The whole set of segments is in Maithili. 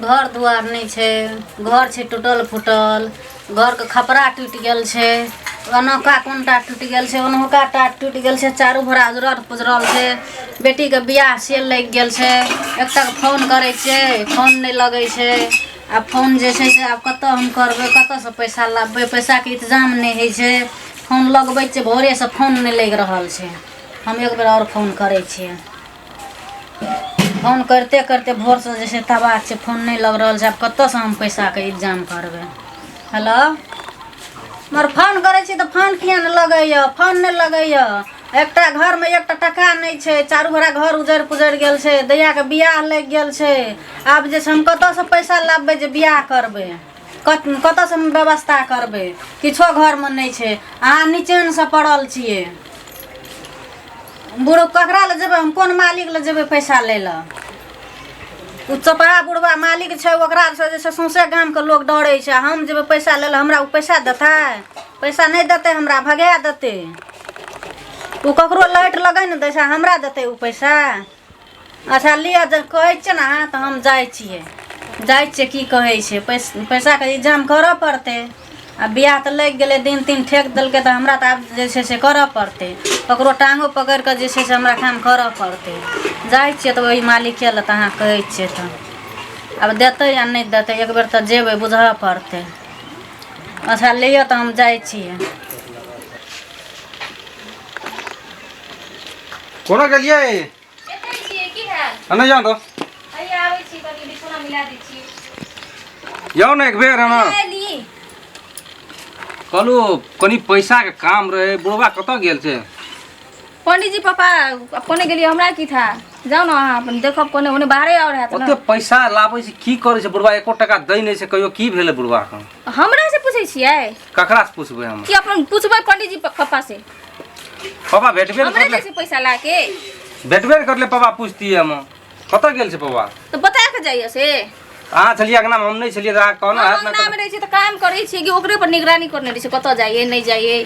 घर दुआर नहीं छे घर छे टूटल फूटल घर के खपरा टूट गल छे ओनका कोनटा टूट गल छे ओनका टा टूट गल छे चारू भरा उजरल पुजरल छे बेटी के बियाह से लग गल छे एक तक फोन करे छे फोन नहीं लगे छे आ फोन जे छे से आब कत हम करबे कत से पैसा लाबे पैसा के इंतजाम नहीं है छे फोन लगबे छे भोरे से फोन नहीं लग रहल छे हम एक बेर और फोन करे छे फोन करिते करिते भोरसँ जे छै तबाह छै फोन नहि लग रहल छै आब कतयसँ हम पैसाके इन्तजाम करबै हेलो मगर फोन करै छी तऽ फोन किए नहि लगैए फोन नहि लगैए एकटा घरमे एकटा टाका नहि छै चारू घोड़ा घर उजरि पुजरि गेल छै दैयाके बियाह लागि गेल छै आब जे छै हम कतयसँ पैसा लाबबै जे बियाह करबै कत कतऽसँ हम व्यवस्था करबै किछो घरमे नहि छै अहाँ निचेनसँ पड़ल छियै बुढ़ ककरा लए जेबै हम कोन मालिक लए जेबै पैसा लै लए ओ चपड़ा बुढ़वा मालिक छै ओकरासँ जे छै सौंसे गामके लोक डरै छै आ हम जेबै पैसा लै लए हमरा ओ पैसा देतै पैसा नहि देतै हमरा भगा देतै ओ ककरो लाइट लगै ने दै छै हमरा देतै ओ पैसा अच्छा लिअ जब कहै छियै ने अहाँ तऽ हम जाइ छियै जाइ छियै की कहै छै पैस पैसाके इन्तजाम करऽ पड़तै आ बियाह तऽ लागि गेलै दिन तीन ठेक देलकै तऽ हमरा तऽ आब जे छै से करऽ पड़तै ककरो टाङ्गो पकड़ि कऽ जे छै से हमरा काम करऽ पड़तै जाइ छियै तऽ ओहि मालिके लए तऽ अहाँ कहै छियै तऽ आब देतै या नहि देतै एक बेर तऽ जेबै बुझऽ पड़तै अच्छा लिअ तऽ हम जाइ छियै कोना गेलियै एतै छियै की है आ नहि जान दो अरे आबै छी कनी बिछौना मिला दै छी जाओ ने एक बेर एना ली कहलू कनी पैसा के काम रहे बुढ़वा कतऽ गेल छै पंडित जी पापा अब कोने गेलियै हमरा की था जाओ ना अहाँ अपन देखब कोने ओने बाहरे और है ओते ना पैसा लाबै छै की करै छै बुढ़वा एको टका दै नहि छै कहियो की भेलै बुढ़वा के हमरा से पूछै छियै ककरा से पूछबै हम कि अपन पूछबै पंडित जी पापा से पापा भेटबे ने हमरे करले जैसे पैसा ला के भेटबे ने करले पापा पूछतियै हम कतऽ गेल छै पापा तो बता के जाइए से अहाँ छलियै अंगना हम नहि छलियै तऽ अहाँ कहना हम हैत ने अंगना में रहै छियै तऽ काम करै छियै कि ओकरे पर निगरानी करने रहै छियै कतऽ जाइए नहि जाइए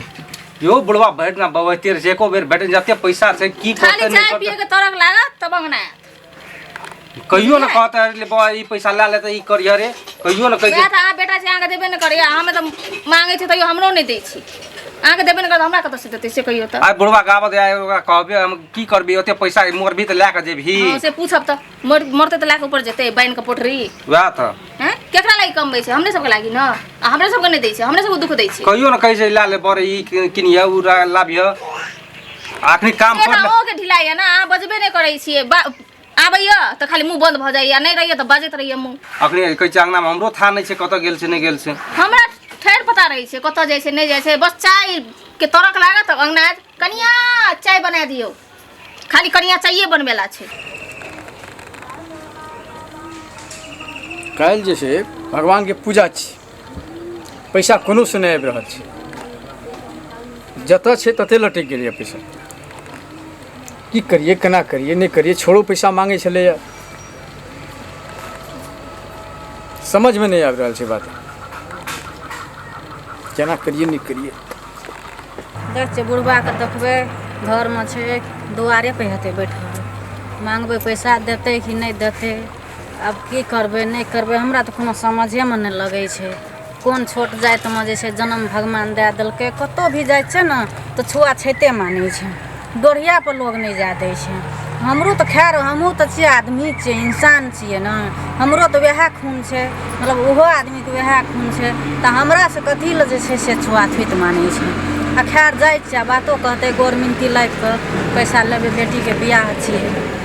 यो बुढ़वा भेट ना बबैते रहै छै एको बेर भेट जते पैसा छै की खाली करतै चाय नहि पिए करतै के तरक लागत तब अंगना आयत। कहियो ने कहता है, ले बा ई पैसा ला ले त ई करिया रे कहियो ने कहि वएह तऽ अहाँ बेटा छै अहाँके देबे नहि करैए हमे तऽ माँगै छी तैयो हमरो नहि दै छी अहाँके देबे नहि करत हमरा कतऽसँ देतै से कहियो तऽ आइ बुढ़वा गाबत आइ ओकरा कहबे हम की करबी ओते पैसा मोर भी त ला के जेबही हँ, से पूछब तऽ मर मरतै तऽ लए कऽ ऊपर जेतै बान्हि कऽ पोटरी वएह त हैं केकरा लागि कमबै छै हमरे सबके लागि ने आ हमरे सबके नहि दै छै हमरे सबके दुःख दै छै कहियो ने कहि छै ला ले बरे ई किनिया उ ला- लाबिह आखिरी काम कर ले के ढिलाइए ना अहाँ बजबे नहि करै छियै आबैया तऽ खाली मुंह बंद भऽ जाइए नहि रहिए तऽ बजैत रहिए मुंह अखनी कहै छै अंगना में हमरो था नहि छै कतऽ गेल छै नहि गेल छै हमरा ठहर पता रहै छै कतऽ जाइ छै नहि जाइ छै बस चाय के तरक लागत अंगना आयत कनिया चाय बना दियौ खाली कनिया चाये बनबेला छै काल्हि जे छै भगवानके पूजा छी पैसा कोनो से नहि आबि रहल छै जतऽ छै तते लटकि गेलैए पैसा की करिए केना करिए नहि करिए छोड़ो पैसा मांगै छलैए समझमे नहि आबि रहल छै बात केना करिए नहि करिए देख छै बुढ़बाके देखबै घरमे छै दुआरे पर हेतै बैठल मांगबै पैसा देतै कि नहि देतै आब की करबै नहि करबै हमरा तऽ कोनो समझेमे नहि लगै छै कोन छोट जातिमे जे छै जनम भगवान दए देलकै कतहु भी जाइ छै ने तऽ छुआछूते मानै छै गोढ़ियापर लोक नहि जाए दै छै हमरो तऽ खैर हमहूँ तऽ छियै आदमी छियै इंसान छियै ने हमरो तऽ उएह खून छै मतलब ओहो आदमीके उएह खून छै तऽ हमरासँ कथी लए जे छै से छुआछूत मानै छै आ खैर जाइ छियै आ बातो कहतै गोर मिनती लागि कऽ पैसा लेबै बेटीके बियाह छियै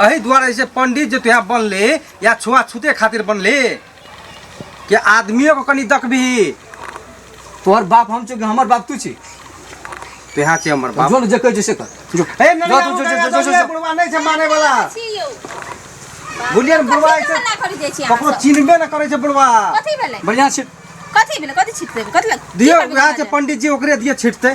अही द्वारा जैसे पंडित जो तुहा बनले या छुआ छूते खातिर बनले कि आदमियों को कनी दकबी तोहर बाप हम छो कि हमर बाप तू छी तुहा छे हमर बाप जो जे कह जैसे कर जो ए नहीं जा, जो, जो, जो, जो, जो, जो। बुढ़वा नहीं छे माने वाला छी यौ बुढ़िया ने बुढ़वा कथी ऐसे मना करै जाइ छी अहाँ ककरो सब? चिन्हबे न करे छे बुढ़वा कथी भेलै बढ़िया छै कथी भेलै कथी छिटतै कथी लग दियो की करबै उहा छे अहाँ जे? पंडित जी ओकरे दिए छिटते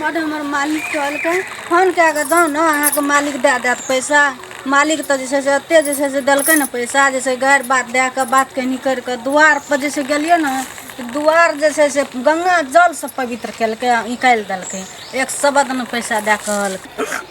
बड हमर मालिक कहलकै फोन कए कऽ जाउ ने अहाँके मालिक दए देत पैसा मालिक तऽ जे छै से एते जे छै से देलकै ने पैसा जे छै गारि बात दए कऽ बात कनी करि कऽ दुआर पर जे छै गेलियै ने तऽ दुआर जे छै से गंगा जलसँ पवित्र केलकै निकालि देलकै एक सबद ने पैसा दए कहलकै